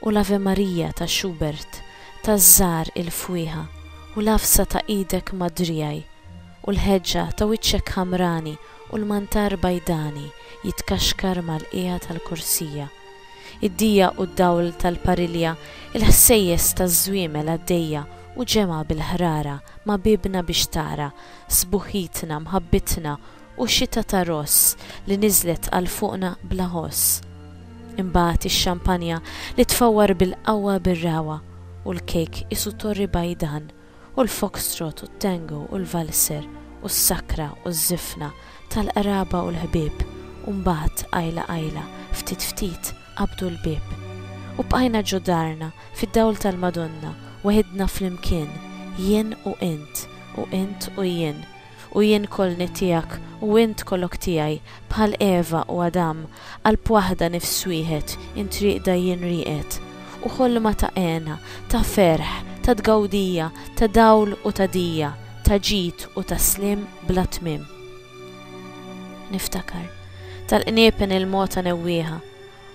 u l-Ave Maria ta' Schubert taż-żgħar il-fwieħa u l-għafsa ta' idek madrijaj u l-ħeġġa ta' wiċċek ħamrani u l-mantar bajdani jitkaxkar mal-qiegħa tal-korsija, id-dija u d-dawl tal-parilja, il-ħsejjes taż-żwiemel għaddejja u ġemgħa bil-ħrara ma' biebna biex tara, sbuħħitna, mħabbitna U xita ta' ross li niżlet għal fuqna bla ħoss. Imbagħad ix-xampanja li tfawwar bil-qawwa bir-ragħwa, u l-kejk qisu torri bajdan, u l-foxtrot u t-tango u l-valser u s-sakra u ż-żifna tal-qraba u l-ħbieb, u mbagħad qajla qajla, ftit ftit qabdu l-bieb. U bqajna ġo darna, fid-dawl tal-Madonna, weħidna flimkien, jien u int, u int u jien, u jien kolni tiegħek u int kolok tiegħi, bħal Eva u Adam, qalb waħda nifs wieħed, int rieqda jien rieqed. U ħolma ta' hena, ta' ferħ, ta' tgawdija, ta' dawl u ta' dija, ta' ġid u ta' sliem bla tmiem. Niftakar, tal-qniepen il-mogħta newwieha,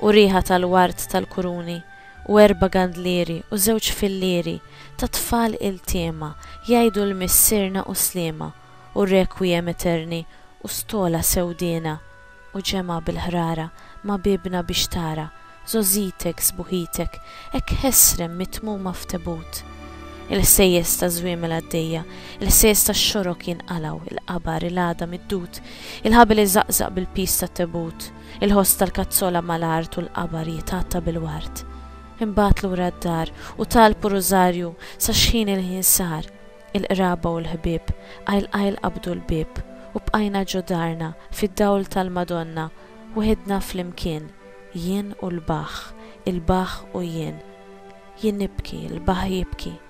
u riħa tal-ward tal-kuruni, u erba' gandlieri u żewġ fillieri ta' tfal iltiema jgħidu l-Missierna u Sliema u r-Requiem Aeterni u stola sewdiena u ġemgħa bil-ħrara ma' biebna biex tara żgħożitek sbuħitek hekk ħesrem mitmuma f'tebut. Il-ħsejjes taż-żwiemel għaddejja, il-ħsejjes tax-xorok jinqalgħu, il-qabar, il-għadam iddud, il-ħabel iżaqżaq bil-piż tat-tebut. Il-ħoss tal-kazzola mal-art u l-qabar jitgħatta bil-ward. Inbagħat lura d-dar u talbu rużarju sa xħin il-ħin sar. Il-qraba u l-ħbieb qajl qajl qabdu l-bieb u bqajna ġo darna fid-dawl tal-Madonna weħidna flimkien, jien u l-bahh, il-bahh u jien. Jien nibki, il-bahh jibki.